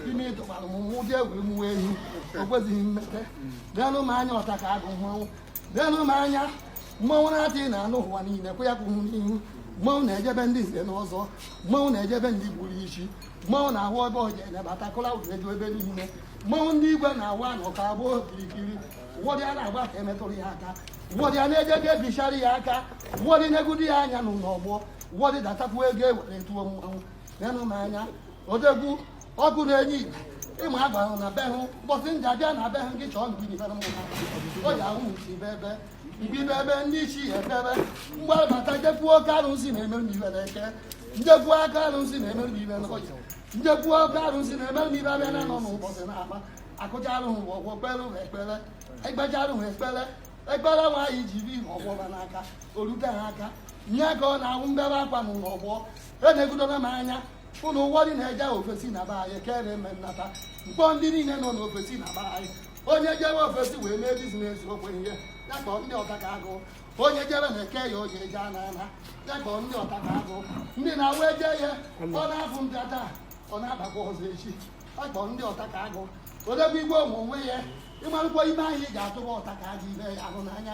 ime ịtụkwara m mụ bịa were mụwa ehi o kwezighị mmete nenụ m anya ọta ka agụ mmanwụ nenụ m anya mmanwụ na-atị na anụ ụwa niile kwụ ya kwụ hụ n'ihu mmanwụ na-eje be ndị nze na ọzọ mmanwụ na-eje be ndị gburu ichi mmanwụ na-ahụ ebe ọja enebata kụla ụdụ eju ebe niile mmanwụ ndị igwe na-awụ anụ ka abụọ kirikiri ụfọdụ a na-agba ka emetụrụ ya aka ụfọdụ a na-eje ka ebichara ya aka ụfọdụ na-egudu ya anya n'ụlọ ọgbọ ụfọdụ datakwu ego ewere tụọ mmanwụ nenụ m anya odegwu ọkụ na-enye igwe ịma a gwara na be hụ mbọsị m ja-abịa na be hụ gị chọọ nke ibe na mmụta o ji ahụ usi ibe ebe ibe ibe ebe ndị isi ya ebe ebe mgbabata njekwu oke arụsị na-eme m ife n'eke njekwu oke arụsị na-eme m ife n'oye njekwu oke arụsị na-eme m ife abịa na nọ n'ụbọchị na akpa akụcha arụhụ bụ ọgwọ kpere hụ ekpere ekpecha arụhụ ekpere ekpere nwaanyị ji bi ọgwọ ba n'aka orute ha aka nye ka ọ na-awụ mbebe akwa n'ụlọ ọgbọ enegudola m anya unu wụ ndị na-eje ofesi na be anyị kere eme nnata mkpọ ndị niile nọ n'ofesi na be anyị onye jewe ofesi wee mee biznes okwe ihe ya kpọọ ndị ọta ka agụ onye jebe na-eke ya o ji eje ana ana ya kpọọ ndị ọta ka agụ ndị na-awụ eje ya ọ na-afụ mbịa taa ọ na-abakwa ọzọ echi ya kpọọ ndị ọta ka agụ odebe igwe ụmụ onwe ya ịmarụkwa ime ahụ ị ga-atụba ọta ka agụ ime ya ahụ n'anya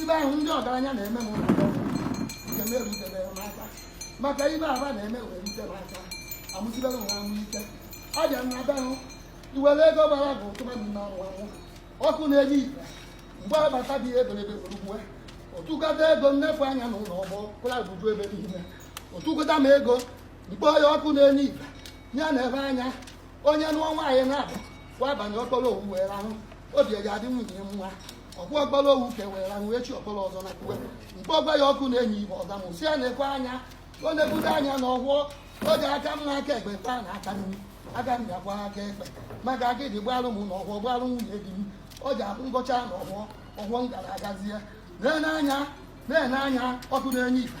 ife ahụ ndị ọgaranya na-eme m nke m erutebere m aka maka ife aba na-eme wee rute m aka amụsibere m amụ ike ọ bịa na be hụ iwere ego gbara bụ tụba mmanwụ ọkụ na-enye ife mgbe agbata dị ebelebe were uwe ọ tụkata ego nnefu anya na ụlọ ọgbọ kwụla buju ebe niile ọ tụkata m ego mkpọ ya ọkụ na-enye ife ya na ebe anya onye nụọ nwaanyị na-abụ wabanye okporo owu wee rahụ obi eji adị nwunye nwa ọkpụ ọgbara owu ka e wee rahụ echi ọkpọrọ ọzọ na kuwe mgbe ọgwa ya ọkụ na-enye ife ọza m si ya na-ekwe anya o negudo anya na ọgwọ o ji aka mma aka ekpe kpaa n'aka nri aga m ga-agwa aka ekpe maka aka ịdị gbalụ m na ọgwọ gbalụ nwunye di m o ji abụ ngọcha na ọgwọ ọgwọ m gara agazie na-ene anya ọkụ na-enye ife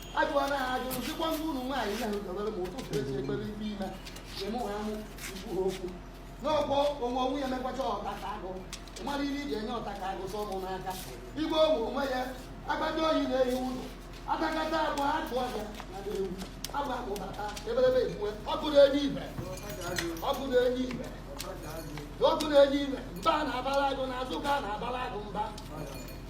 ajụwara ha ajụ sikwa ndị ụmụ nwaanyị na ahụdobere ma ụtụtụ eji ekpere ibe ime eme ha amụ ikwu ha okwu n'ọgbọ onwe onwe ya emekwacha ọta ka agụ marụ ihe iji enye ọta ka agụ sọ ụmụ n'aka igwe onwe onwe ya agbata obi na-ehi ụlọ atakata agụ atụ ọja na ewu agba akpụbata ebelebe egbue ọkụ na-enye ife ọkụ na-enye ife ọkụ na-enye ife mba na-abara agụ n'azụ ka a na-abara agụ mba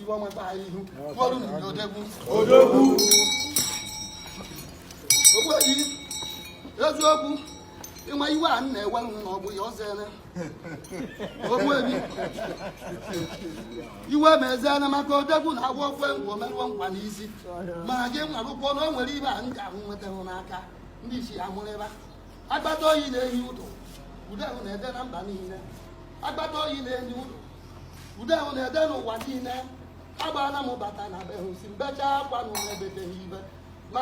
ife ọma taa anyị ihu tụọrụ n'ụdị odogwu ogbuefi eziokwu ịma iwe a m na-ewe m na ọ bụ ya ọzọ ene ogbuefi iwe ma eze ene maka odogwu na agwa ofe ngwa omerụọ nkwa n'isi mana gị marụkwọ na o nwere ife a m ga-ahụ nwetahụ n'aka ndị isi ya mụrịba akpata oyi na-ehi ụdụ ude ahụ na-ede na mba niile akpata oyi na-ehi ụdụ ude ahụ na-ede n'ụwa niile agbaala m bata na be hụ sị m bechaa akwa na mụ ebeteghị ibe